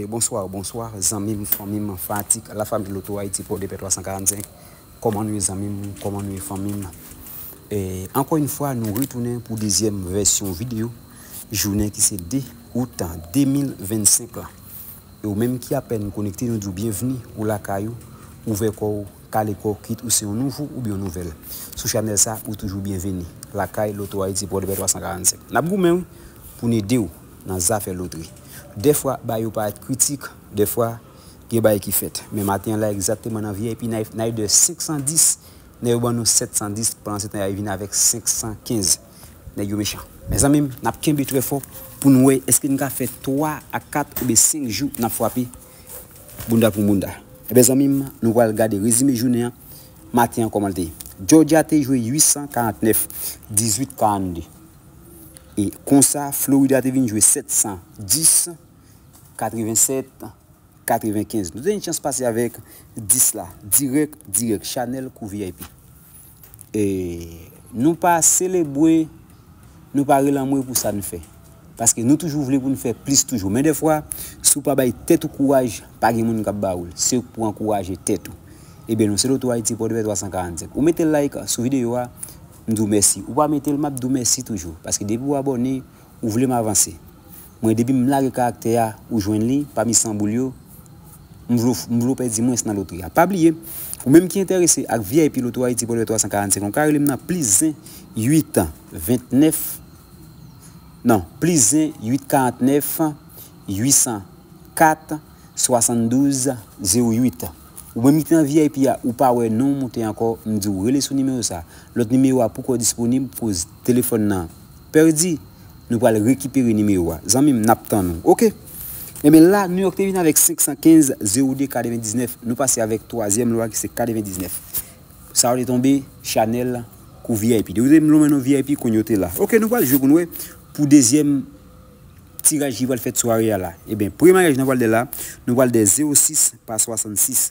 Bonsoir bonsoir zanmim fanmim fanatik la famille loto Haïti podepè 345 kòman nou ye zanmim kòman nou ye fanmim ankò une fwa nou retounen pou dezyèm vèsyon video jounen ki se 2 out 2025 la E ou menm ki apèn konekte nou diw byenvni ou lakay ou ouvè kòw kale kòw kit ou se yon nouvo oubyen yon nouvèl sou chanèl sa ou toujou byenveni lakay loto ayiti pòdepè 345 nap goumen wi poun edew nan zafè lotri dèfwa bagay yo parèt kritik dèfwa gen bagay ki fèt men maten an la egzakteman nan vip nayde 510 nèg yo ban nou 710 pandan se tan yal vin avèk 515. Nèg yo mechan. Mezanmi m nap kenbe trè fò pou n wè èske n ka fè 3 a 4 oubyen 5 jou nap fwape bounda pou bounda. Ebyen zanmi m nou pral gade rezime jounen an maten an kòman l te ye. Georgia te jwe 849, 18 42 e konsa Florida te vin jwe 710, 87. 95 nou te gen chans pase avèk 10 la dirèk dirèk chanèl kou vip e nou pa selebwe nou pa rele anmwe pou sa n fè paske nou toujou vle pou n fè plis toujou men dèfwa si w pa bay tèt ou kouraj pa gen moun k ap ba ou l se ou k pou ankouraje tèt ou ebyen nou se loto ayiti pòdpè 345 ou mete like sou videyo a m di w mèsi ou pa mete l m ap di w mèsi toujou paske depi w abòne. Ou vle m avanse. Mwen depi m lage karaktè a ou jwenn li pami 100 boul yo M vle w m vle w pèdi mwens nan lotri a Pa bliye Ou menm ki enterese ak vip loto Haïti Pòdpè 345 ou ka rele m nan plis 1 8 29 non plis 1 8 49 804 72 08 Ou menm ki te nan vip a ou pa wè non w moute ankò m di w rele sou nimewo sa Lòt nimewo a poukò disponib koz telefòn nan Perdi Nou pral rekipere nimewo a zanmi m nap tann ou ok Ebyen la New York te vin avèk 515 0 de 99 nou pase avèk twazyèm lwa ki se 99 sa yo te tonbe Chanel kou vip depi w te lonmen nan vip kounya w te la ok nou pral jwe pou n wè pou dezyèm tiraj ki pral fèt sware a la ebyen premye mayaj nan pral de la nou pral de 06 pa 66